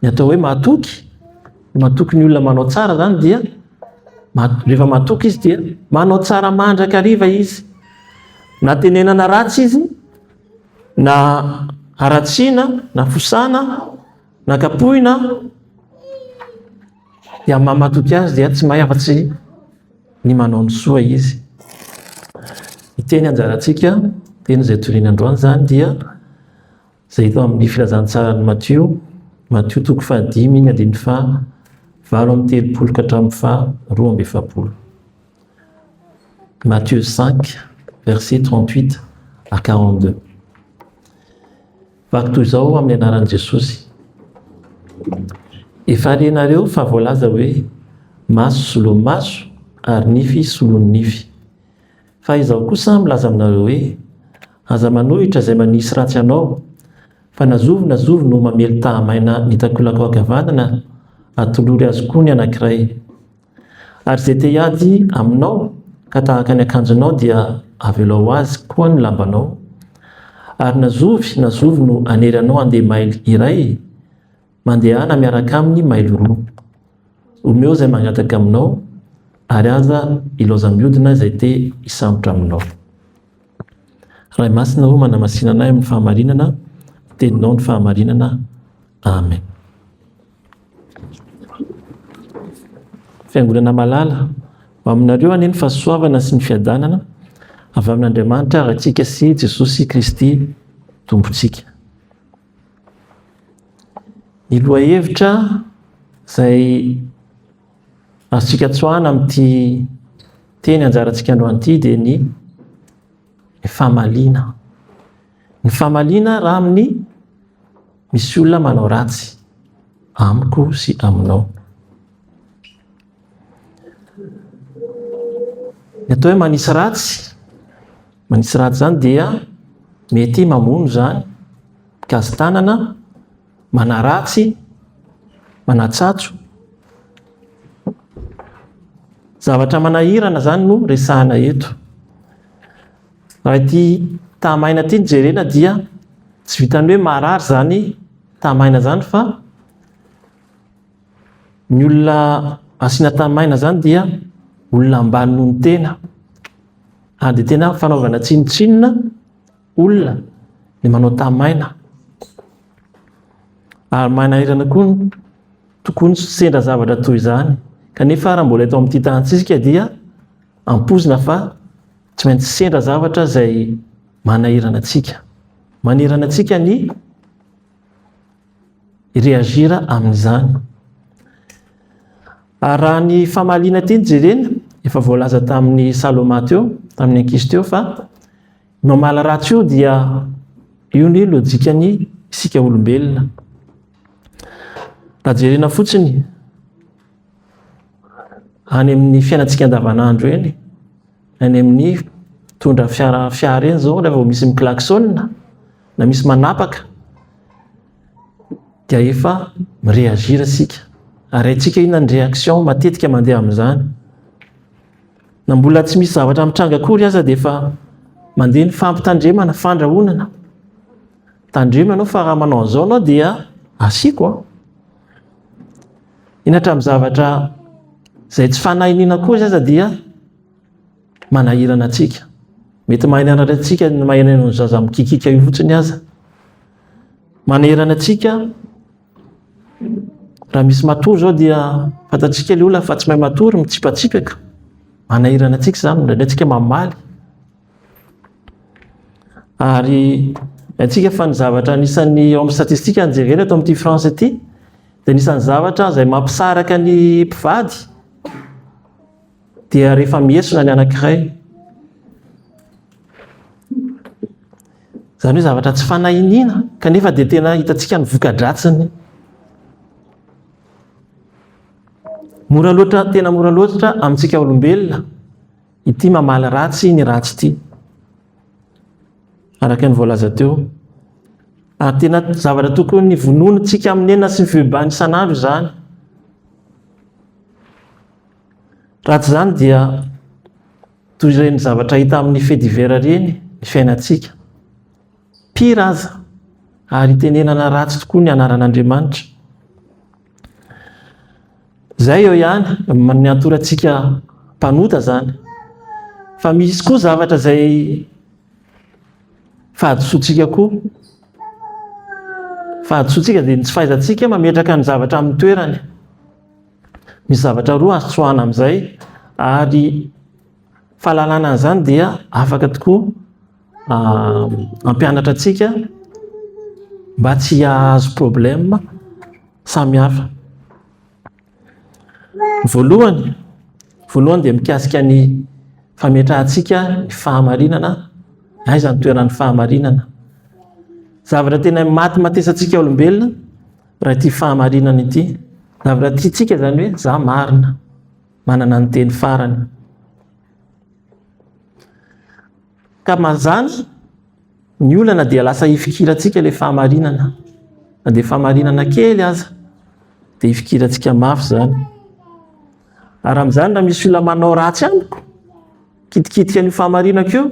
Ny atao hoe matoky, matoky ny olona manao tsara zany dia rehefa matoky izy dia manao tsara mandrakariva izy. Na tenenana ratsy izy, na haratsiana, na fosana, na kapohina dia amin'ny maha matoky azy dia tsy mahay afa-tsy ny manao ny soa izy. Ny teny anjarantsika, teny izay toriana androany zany dia izay hita ao amin'ny Filazantsaran'i Matio, Matio toko fahadimy, andininy faha valo amby telopolo ka hatramin'ny faha roa amby efapolo. Matio 5, verset 38 à 42. Vaky toy izao amin'ny anaran'i Jesosy. Efa renareo fa voalaza hoe maso solomaso ary nify solon'ny nify. Fa Izaho kosa milaza aminareo hoe, Aza manohitra izay manisy ratsy anao, fa na zovy na zovy no mamely tahamaina ny takolakao ankavanana, atolory azy koa ny anankiray. Ary izay te hiady aminao ka tahaka ny akanjonao dia avelao azy koa ny lambanao. Ary na zovy na zovy no hanery anao handeha mailo iray, Mandehana miaraka aminy mailo roa. Omeo izay mangataka aminao, ary aza ilaozam-biodina izay te hisambotra aminao. Ray Masina ô, manamasina anay amin'ny fahamarinana, ny Teninao no fahamarinana. Amen. Fiangonana malala, ho aminareo anie ny fahasoavana sy ny fiadanana avy amin'Andriamanitra Ratsika sy Jesosy Kristy Tompontsika. Ny lohahevitra izay azontsika tsoahana amin'ity teny anjarantsika androany ity dia ny famaliana. Ny famaliana raha amin'ny misy olona manao ratsy amiko sy aminao. Ny atao hoe manisy ratsy Manisy ratsy izany dia mety mamono izany mpikazi-tanana, manaratsy, manatsatso. Zavatra manahirana izany no resahana eto. Raha ity tahamaina ity no jerena dia tsy vitan'ny hoe marary izany tahamaina izany fa Ny olona asiana tany maina izany dia olona ambany noho ny tena. Ary dia tena fanaovana tsinontsinona olona ny manao tany maina. Ary manahirana koa ny tokoa ny sendra zavatra toy izany. Kanefa raha mbola eto amin'ity tany ity isika dia ampoizina fa tsy maintsy sendra zavatra izay manahirana antsika. Manirana antsika ny reagir amin'izany. Ary raha ny famaliana ity no jerena, efa voalaza tamin'ny Saloma teo, tamin'ny ankizy teo fa ny mamaly ratsy io dia io ny lojikan'ny isika olombelona. Raha jerena fotsiny, any amin'ny fiainantsika andavanandro eny, any amin'ny mpitondra fiara fiara eny izao rehefa misy miklaksona na misy manapaka dia efa mireagir isika ary haintsika inona ny réaction matetika mandeha amin'izany na mbola tsy misy zavatra mitranga akory aza dia efa mandeha ny fampitandremana fandrahonana tandremo ianao fa raha manao an'izao ianao dia asiako an ah. Iny hatramin'ny zavatra izay tsy fanahy iniana koa izy aza dia manahirana antsika. Mety mahay nianatra antsika ny mahay ny zaza mikikika io fotsiny aza. Manahirana antsika raha misy matory izao dia fantatsika ilay olona fa tsy mahay matory, mitsipatsipaka. Manahirana antsika izany, indraindray tsika mamaly. Ary haintsika fa ny zavatra anisan'ny ao amin'ny statistika no jerena eto amin'ity France ity dia anisan'ny zavatra izay mampisaraka ny mpivady dia rehefa mihesona ny anankiray. Izany hoe zavatra tsy fanahiniana kanefa dia tena hitantsika ny voka-dratsiny. Mora loatra, tena mora loatra amintsika olombelona Ity mamaly ratsy ny ratsy ity, araka ny voalaza teo. Ary tena zavatra tokony vononintsika amin'ny enina sy ny fibebahana isan'andro izany. Raha tsy izany dia toy ireny zavatra hita amin'ny fedivera ireny ny fiainantsika. Pira aza, ary itenenana ratsy tokoa ny anaran'Andriamanitra. Izay eo ihany, ny atorantsika mpanota izany. Fa misy koa zavatra izay fahadisoantsika koa. Fahadisoantsika dia ny tsy fahaizantsika mametraka ny zavatra amin'ny toerany. Misy zavatra roa azo tsoahana amin'izay ary fahalalana an'izany dia afaka tokoa. ah, ampianatra antsika mba tsy hahazo problème samihafa. Voalohany, voalohany dia mikasika ny fametrahantsika ny fahamarinana, aiza ny toeran'ny fahamarinana. Zavatra tena maty matesantsika olombelona raha ity fahamarinana ity. Zavatra tiantsika zany hoe za marina, manana ny teny farany. Ka manjany, ny olana dia lasa hifikirantsika ilay fahamarinana. Na dia fahamarinana kely aza, dia hifikirantsika mafy izany. Ary amin'izany, raha misy olona manao ratsy amiko, kitikitika an'io fahamarinako io,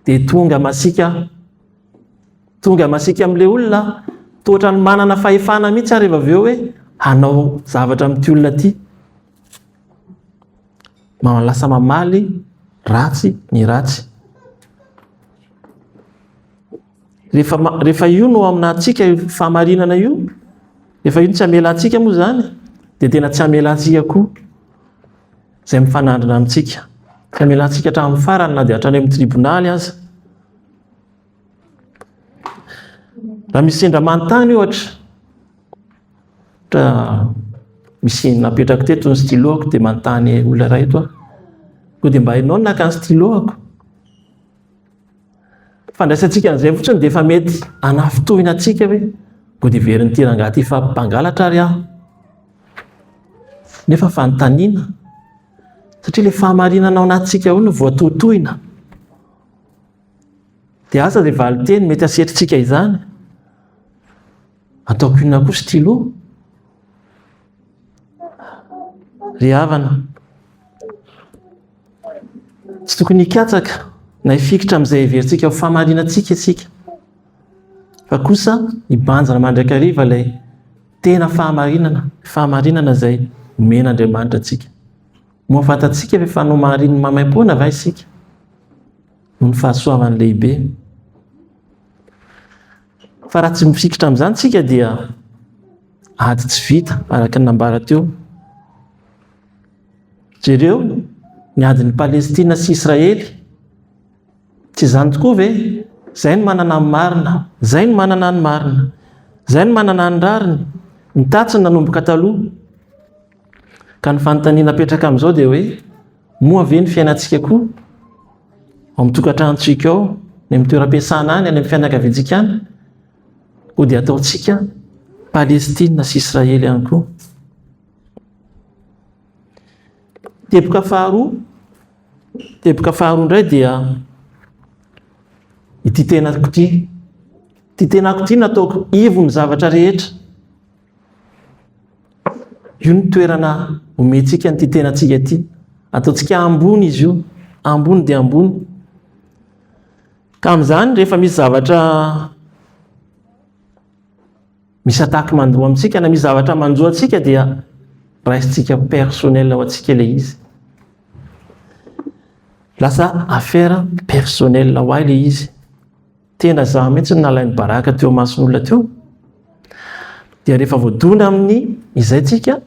dia tonga masika tonga masika amin'ilay olona toa ohatran'ny manana fahefana mihitsy ary rehefa avy eo hoe hanao zavatra amin'ity olona ity. Lasa mamaly ratsy ny ratsy. Rehefa, rehefa io no aminantsika io fahamarinana io, rehefa io no tsy amela antsika moa izany, dia tena tsy amela antsika koa izay mifanandrina amintsika. Tsy amela antsika hatramin'ny farany na dia hatrany amin'ny tribonaly aza. Raha misy sendra manontany ohatra, ohatra misy napetrako teto ny stylo-ako dia manontany olona iray eto aho. Koa dia mba hainao ny naka ny stylo-ako. Fandraisantsika an'izay fotsiny dia efa mety hanafintohina antsika hoe koa dia verin'ity rangahy ity fampangalatra ary aho. Nefa fanontaniana satria ilay fahamarinana ao anatintsika ao no voatohitohina. Dia aza ilay valinteny mety hasetrintsika izany. Ataoko inona koa stylo? Ry havana, tsy tokony hikatsaka na hifikitra amin'izay heverintsika ho fahamarinantsika isika. Fa kosa hibanjina mandrakariva ilay tena fahamarinana, fahamarinana izay omen'Andriamanitra antsika. Moa fantatsika ve fa nomarininy maimaim-poana va isika? noho ny fahasoavany lehibe. Fa raha tsy mifikitra amin'izany tsika dia ady tsy vita araka ny nambara teo. Jereo ny adin'i Palestina sy Israely. Tsy izany tokoa ve? Izay no manana ny marina, izay no manana ny marina, izay no manana ny rariny, ny tatsiny nanomboka taloha. Ka ny fanontaniana apetraka amin'izao dia hoe Moa ve ny fiainantsika koa, ao amin'ny tokantranontsika ao, ny amin'ny toeram-piasana any, any amin'ny fianakaviantsika any, koa dia ataontsika Palestina sy Israely ihany koa? Teboka faharoa, teboka faharoa indray dia ity tenako ity. Ity tenako ity nataoko ivon'ny zavatra rehetra. Io ny toerana omentsika an'ity tenantsika ity. Ataontsika ambony izy io, ambony dia ambony. Ka amin'izany rehefa misy zavatra misy attaque mandoa amintsika na misy zavatra manjo antsika dia raisintsika personnel ho antsika ilay izy. Lasa affaire personnel ho ahy ilay izy. Tena za mihitsy no nalainy baraka teo imason'olona teo. Dia rehefa voadona amin'ny izay tsika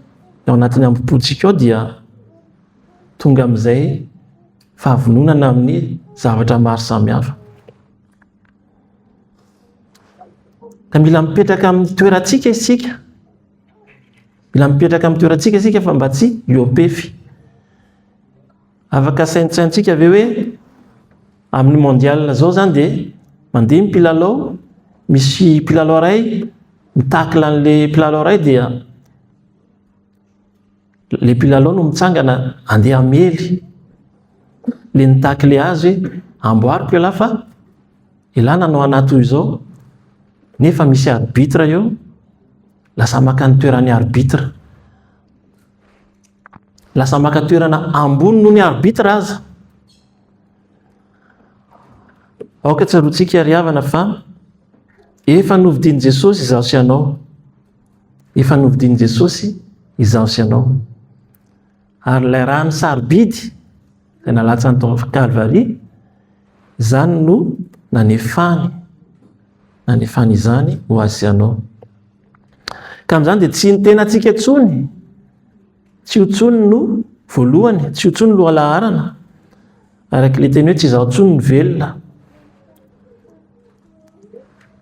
ao anatin'ny ambopotsika ao dia tonga amin'izay fahavononana amin'ny zavatra maro samihafa. Ka mila mipetraka amin'ny toerantsika isika. Mila mipetraka amin'ny toerantsika isika fa mba tsy iopefy. Afaka saintsaintsika ve hoe amin'ny mondial zao zany dia mandeha ny mpilalao, misy mpilalao iray mi-tacle an'le mpilalao iray dia le mpilalao no mitsangana andeha hamely le ni-tacle azy hoe amboariko elah fa elah nanao anah toy izao nefa misy arbitre eo, lasa maka ny toeran'ny arbitre. Lasa maka toerana ambony noho ny arbitre aza. Aoka tsaroantsika ry havana fa efa novidian'i Jesosy izaho sy ianao. Efa novidian'i Jesosy izaho sy ianao. Ary ilay rano sarobidy izay nalatsany tao amin'ny Kalvary, izany no nanefany nanefany izany ho azy sy anao. Ka amin'izany dia tsy ny tenantsika intsony, tsy io intsony no voalohany, tsy io intsony no lohalaharana, araka ilay teny hoe tsy izaho intsony ny velona.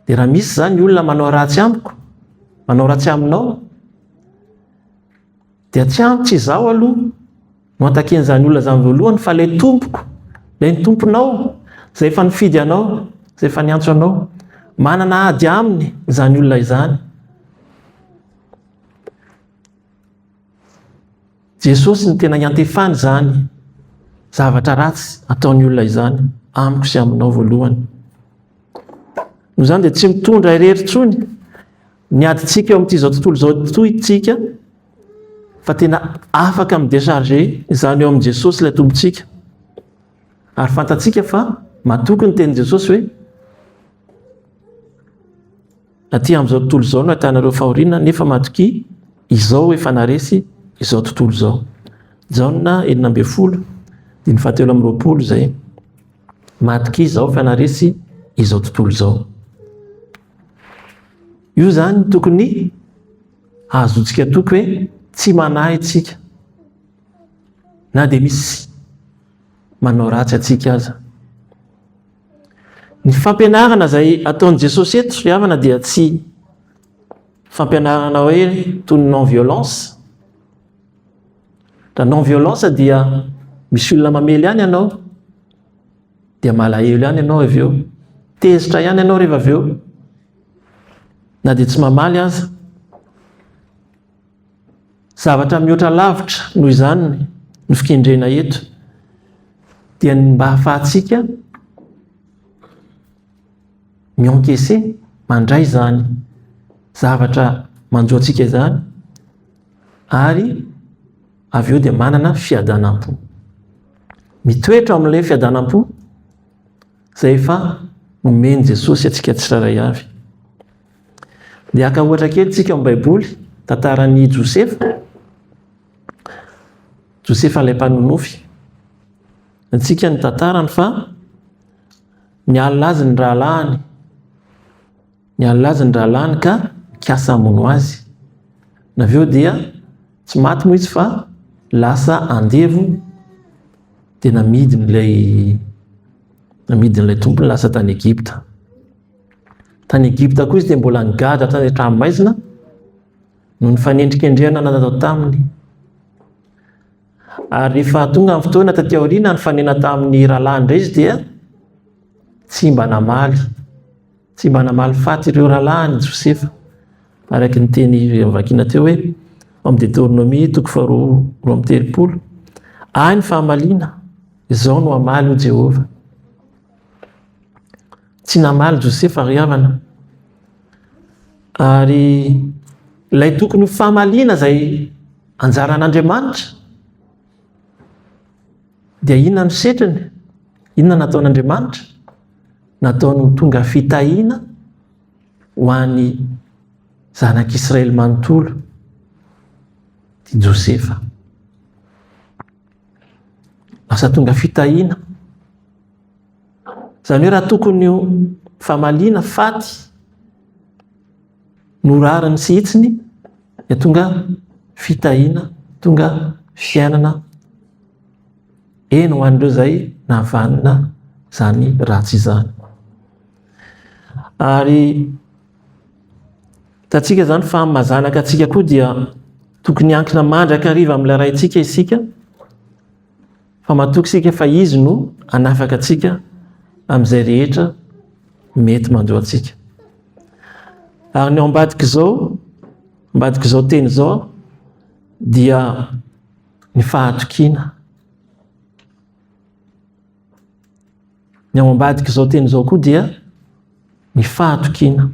Dia raha misy izany olona manao ratsy amiko, manao ratsy aminao, Dia tsy antitra izaho aloha no hatakian'izany olona izany voalohany fa ilay tompoko, ilay ny tomponao, izay efa nifidy anao, izay efa niantso anao. Manana ady aminy izany olona izany. Jesosy no tena iantefany izany zavatra ratsy ataon'ny olona izany amiko sy aminao voalohany. Noho izany dia tsy mitondra irery intsony Ny adintsika eo amin'ity izao tontolo izao toy isika fa tena afaka mi-décharger izany eo amin'i Jesosy ilay Tompontsika. Ary fantatsika fa matoky ny tenin'i Jesosy hoe aty amin'izao tontolo izao no ahitanareo fahoriana nefa matokia izao efa naresy izao tontolo izao. Jaona enina ambin'ny folo, diny fahatelo amin'ny roapolo izay. Matokia izao fa naresy izao tontolo izao. Io izany tokony hahazoantsika toky hoe tsy manahy antsika. Na dia misy manao ratsy antsika aza. Ny fampianarana izay ataon'i Jesosy eto, ry havana, dia tsy fampianarana hoe toy ny non-violence. Raha non-violence dia misy olona mamely ihany ianao. dia malahelo ihany ianao avy eo, tezitra ihany ianao rehefa avy eo, na dia tsy mamaly aza. Zavatra mihoatra lavitra noho izany ny fikendrena eto, dia ny mba hahafahantsika miankese mandray izany zavatra manjo antsika izany ary Avy eo dia manana fiadanam-po. Mitoetra ao amin'ilay fiadanam-po izay efa nomen'i Jesosy antsika tsirairay avy. Dia haka ohatra kely tsika amin'ny Baiboly, tantaran'i Josefa. Josefa ilay mpanonofy. Antsika ny tantarany fa nialina azy ny rahalahiny. Niala azy ny rahalahiny ka nikasa hamono azy. Avy eo dia tsy maty moa izy fa lasa andevo dia namidiny ilay namidiny ilay tompony lasa tany Egypta. Tany Egypta koa izy dia mbola nigadra tany an-tranomaizina no nifanendrikendrehana natao taminy. Ary rehefa tonga amin'ny fotoana taty aoriana nifanena tamin'ny rahalahy indray izy dia tsy mba namaly. Tsy mba namaly faty ireo rahalahiny Josefa, araka ny teny vakina teo hoe ao amin'ny Deteronomia toko faharoa roa amby telopolo, Ahy ny fahamaliana, izao no hamaly, hoy Jehovah. Tsy namaly Josefa, ry havana. Ary ilay tokony ho fahamaliana izay anjaran'Andriamanitra, Dia inona no setriny? Inona no nataon'Andriamanitra? Nataony ho tonga fitahiana ho an'ny zanak'Israely manontolo i Josefa. Lasa tonga fitahiana. Izany hoe raha tokony ho famaliana faty Norariny sy hitsiny dia tonga fitahiana, tonga fiainana eny ho an'ireo izay navanona izany ratsy izany. Ary hitantsika izany fa maha-zanaka antsika koa dia tokony hiankina mandrakariva amin'ilay Raintsika isika, Fa matoky isika fa Izy no hanafaka antsika amin'izay rehetra mety manjo antsika. Ary ny ao ambadik'izao, ambadik'izao teny izao, dia ny fahatokiana. Ny ao ambadik'izao teny izao koa dia ny fahatokiana.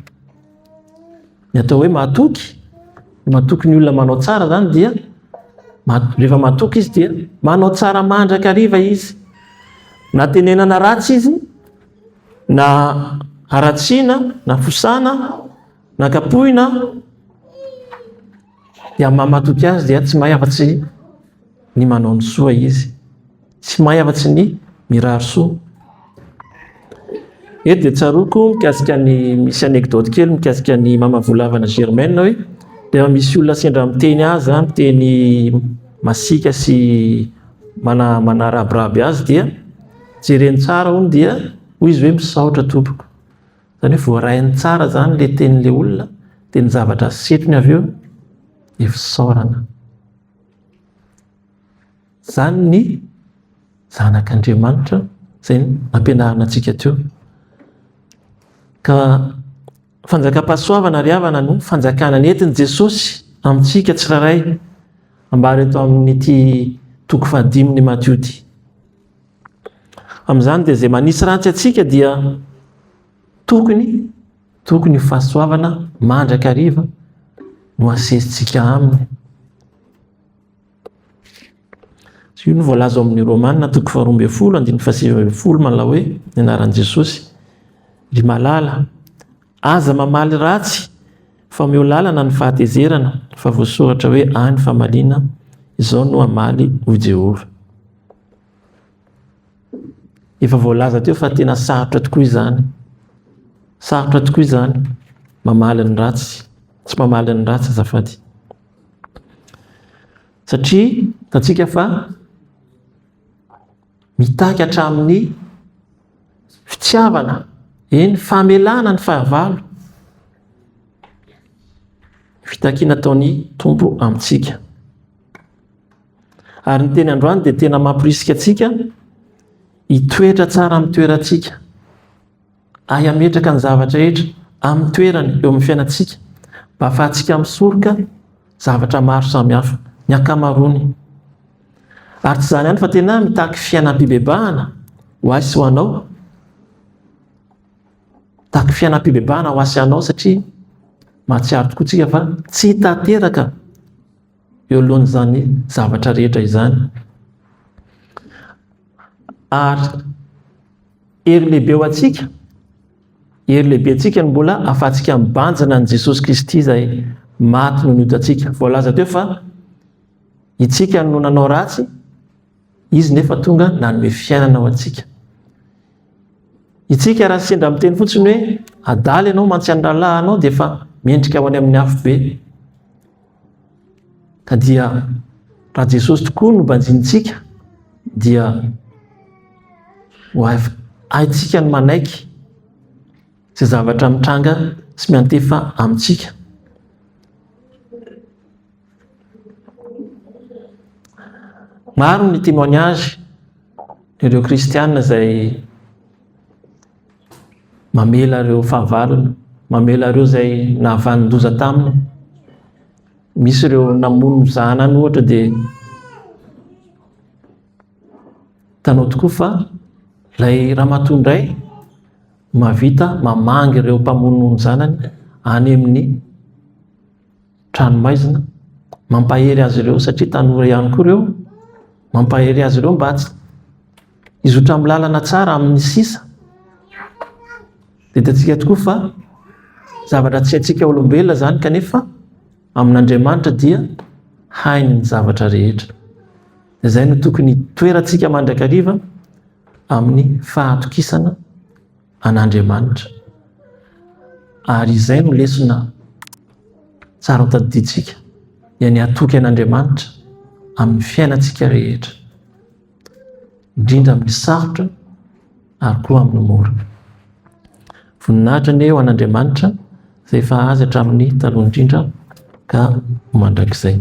Ny atao hoe mahatoky, mahatoky ny olona manao tsara izany dia rehefa mahatoky izy dia manao tsara mandrakariva izy. Na tenenana ratsy izy, na haratsiana, na fosana, na kapohina, dia mamatoky azy dia tsy mahay afa-tsy ny manao ny soa izy. Tsy mahay afa-tsy ny mirary soa. Eto dia tsaroako mikasika ny misy anecdote kely mikasika ny mama Volavana Germaine hoe rehefa misy olona sendra miteny azy na miteny masiaka sy mana- manarabiraby azy dia jereny tsara hono dia hoy izy hoe misaotra tompoko. Izany hoe voarahiny tsara izany ilay tenin'ilay olona dia ny zavatra setony avy eo dia fisaorana. Izany ny Zanak'Andriamanitra izay nampianarina antsika teo. Ka fanjakam-pahasoavana ry havana no fanjakana nentin'i Jesosy amintsika tsirairay, ambara eto amin'ity toko fahadimin'ny Matio ity. Amin'izany dia izay manisy ratsy antsika dia tokony tokony ho fahasoavana mandrakariva no asesintsika aminy. Io no voalaza ao amin'ny Romana toko faharoa ambin'ny folo andininy fahasivy ambin'ny folo manao hoe ny anaran'i Jesosy. Ry malala, aza mamaly ratsy fa omeo lalana ny fahatezerana fa voasoratra hoe ahy ny famaliana, izao no hamaly, hoy Jehovah. Efa voalaza teo fa tena sarotra tokoa izany. Sarotra tokoa izany mamaly ny ratsy, tsy mamaly ny ratsy azafady. Satria hitantsika fa mitaky hatramin'ny fitiavana, eny famelana ny fahavalo, fitakiana ataon'ny Tompo amintsika. Ary ny teny androany dia tena mamporisika antsika hitoetra tsara amin'ny toerantsika. Ary hametraka ny zavatra rehetra amin'ny toerany eo amin'ny fiainantsika mba hahafahantsika misoroka zavatra maro samihafa, ny ankamaroany. Ary tsy izany ihany fa tena mitaky fiainam-pibebahana ho ahy sy ho anao. Mitaky fiainam-pibebahana ho ahy sy anao satria mahatsiaro tokoa tsika fa tsy tanteraka eo alohan'izany zavatra rehetra izany. Ary Hery lehibe ho antsika, hery lehibe antsika no mbola ahafahantsika mibanjina an'i Jesosy Kristy izay maty noho ny otantsika. Voalaza teo fa itsika no nanao ratsy, Izy nefa tonga nanome fiainana ho antsika. Itsika raha sendra miteny fotsiny hoe adala ianao mantsy an'ny rahalahinao dia efa mendrika ho any amin'ny afobe. Ka dia raha Jesosy tokoa no banjinintsika dia ho haintsika ny manaiky izay zavatra mitranga sy miantefa amintsika. Maro ny témoignage ireo kristianina izay Mamela ireo fahavalony, mamela ireo izay nahavanon-doza taminy. Misy ireo namono zanany ohatra dia tanao tokoa fa ilay ramatoa indray mavita mamangy ireo mpamono ny zanany any amin'ny tranomaizina. Mampahery azy ireo satria tanora ihany koa ireo. Mampahery azy ireo mba tsy hizotra amin'ny lalana tsara amin'ny sisa. Didiantsika tokoa fa zavatra tsy haintsika olombelona izany kanefa amin'Andriamanitra dia hainy ny zavatra rehetra. Izay no tokony toerantsika mandrakariva amin'ny fahatokisana an'Andriamanitra. Ary izay no lesona tsara tadidintsika, dia ny hatoky an'Andriamanitra amin'ny fiainantsika rehetra, indrindra amin'ny sarotra ary koa amin'ny mora. Voninahitra anie ho an'Andriamanitra izay efa azy hatramin'ny taloha indrindra ka mandrakizay.